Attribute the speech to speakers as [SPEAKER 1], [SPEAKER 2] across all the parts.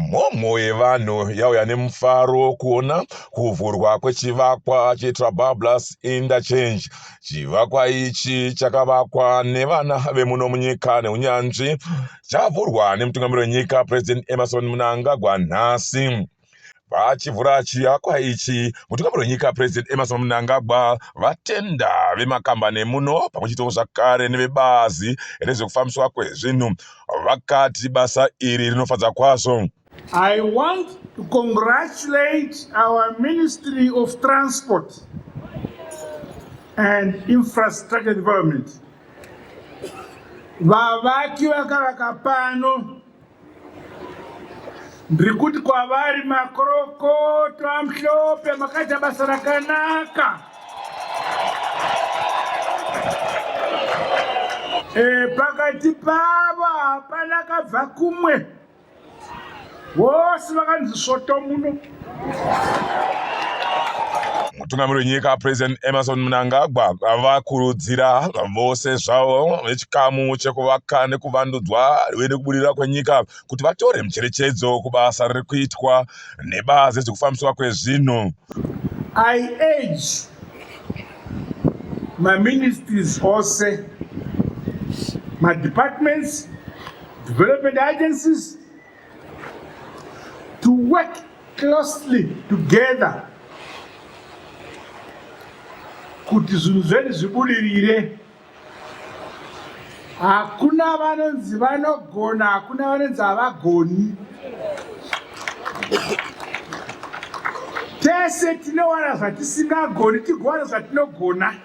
[SPEAKER 1] mhomho yevanhu yauya nemufaro wokuona kuvhurwa kwechivakwa chetrabablus interchange chivakwa ichi chakavakwa nevana vemuno munyika neunyanzvi chavhurwa nemutungamiri wenyika president emerson munangagwa nhasi Vachivhura chivakwa ichi, mutungamiri wenyika President Emmerson Mnangagwa vatenda vemakambani emuno pamwe chete zvakare nevebazi rezvekufambiswa kwezvinhu vakati basa iri rinofadza kwazvo. I want
[SPEAKER 2] to congratulate our Ministry of Transport and Infrastructure Development vavaki vakavaka pano Ndiri kuti kwavari makorokoto amhlope makaita basa rakanaka. E, pakati pavo hapana kabva kumwe vose vakanzi svoto muno.
[SPEAKER 1] mutungamiri wenyika president emerson mnangagwa vakurudzira vose zvavo vechikamu chekuvaka nekuvandudzwa uye nekubudirira kwenyika kuti vatore mucherechedzo kubasa riri kuitwa nebazi rezvekufambiswa kwezvinhu i
[SPEAKER 2] age maministries ose madepartments development agencies to work closely together kuti zvinhu zvedu zvibudirire hakuna vanonzi vanogona hakuna vanonzi havagoni tese tinowana zvatisingagoni tigowana zvatinogona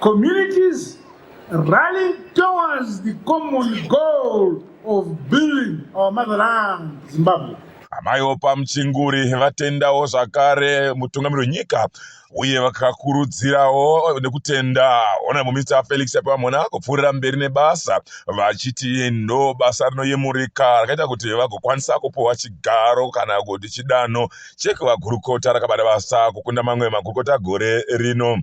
[SPEAKER 2] Communities rallying towards the common goal of building our motherland, Zimbabwe. Amai Opa
[SPEAKER 1] Muchinguri vatendawo zvakare mutungamiri wenyika uye vakakurudzirawo nekutenda honorable minister Felix Apamona kupfuurira mberi nebasa vachiti ndo basa rinoyemurika rakaita kuti vagokwanisa kupuwa chigaro kana kuti chidanho chekuvagurukota rakabata basa kukunda mamwe magurukota gore rino.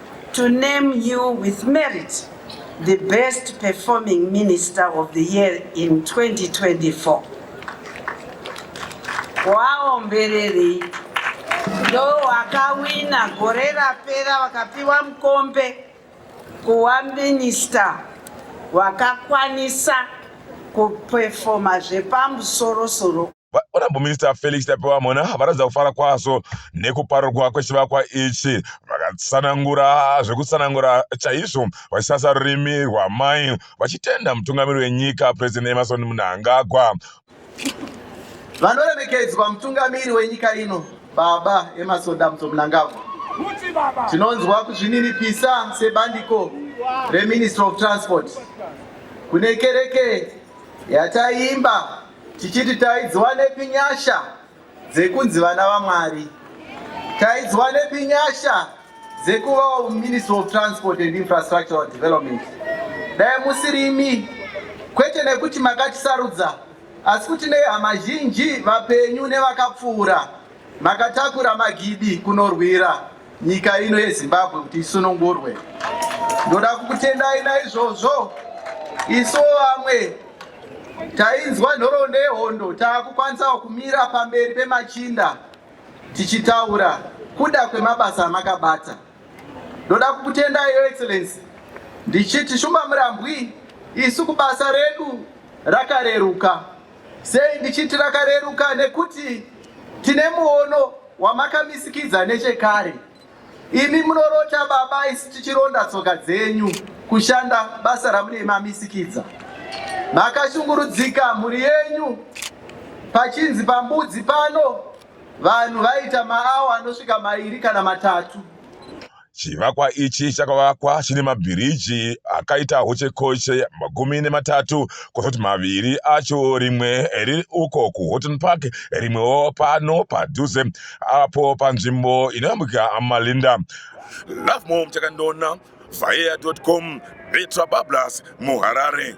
[SPEAKER 3] to name you with merit the best performing minister of the year in 2024 waombererei ndo wakawina gore rapera wakapiwa mukombe kuwa minista wakakwanisa kupefoma zvepamusorosoro Honorable Minister
[SPEAKER 1] Felix Tapiwa Mhona varatidza kufara kwazvo nekuparurwa kwechivakwa ichi vakatsanangura zvekutsanangura chaizvo vachisasa rurimi rwamai vachitenda mutungamiri wenyika President Emerson Mnangagwa.
[SPEAKER 4] Vanoremekedzwa mutungamiri wenyika ino Baba Emerson Damso Mnangagwa, tinonzwa kuzvininipisa sebandiko reMinistry of Transport kune kereke yataiimba tichiti taidziwanepi nyasha dzekunzi vana vaMwari, taidziwanepi nyasha dzekuvawo Ministry of Transport and Infrastructural Development. Dai musirimi kwete nekuti makatisarudza asi kuti nehama zhinji vapenyu nevakapfuura Makatakura magidi kunorwira nyika ino yeZimbabwe kuti isunungurwe. Ndoda kukutendai naizvozvo isu vamwe tainzwa nhoroondo yehondo taakukwanisawo kumira pamberi pemachinda tichitaura kuda kwemabasa amakabata. Ndoda kukutendai your excellency ndichiti shumba murambwi isu kubasa redu rakareruka. Sei ndichiti rakareruka? Nekuti tine muono wamakamisikidza nechekare. Imi munorota baba, isu tichironda tsoka dzenyu kushanda basa ramunei mamisikidza. Makashungurudzika mhuri yenyu pachinzi pambudzi pano vanhu vaita maawa anosvika mairi kana matatu.
[SPEAKER 1] Chivakwa ichi chakavakwa chine mabhiriji akaita hochekoche makumi nematatu kwozoti maviri acho rimwe riri uko kuHoughton Park rimwewo pano padhuze apo panzvimbo inoyambukira Malinda. Lovemore Muchakandona, Vhayera.com, Betra Bablas, muHarare.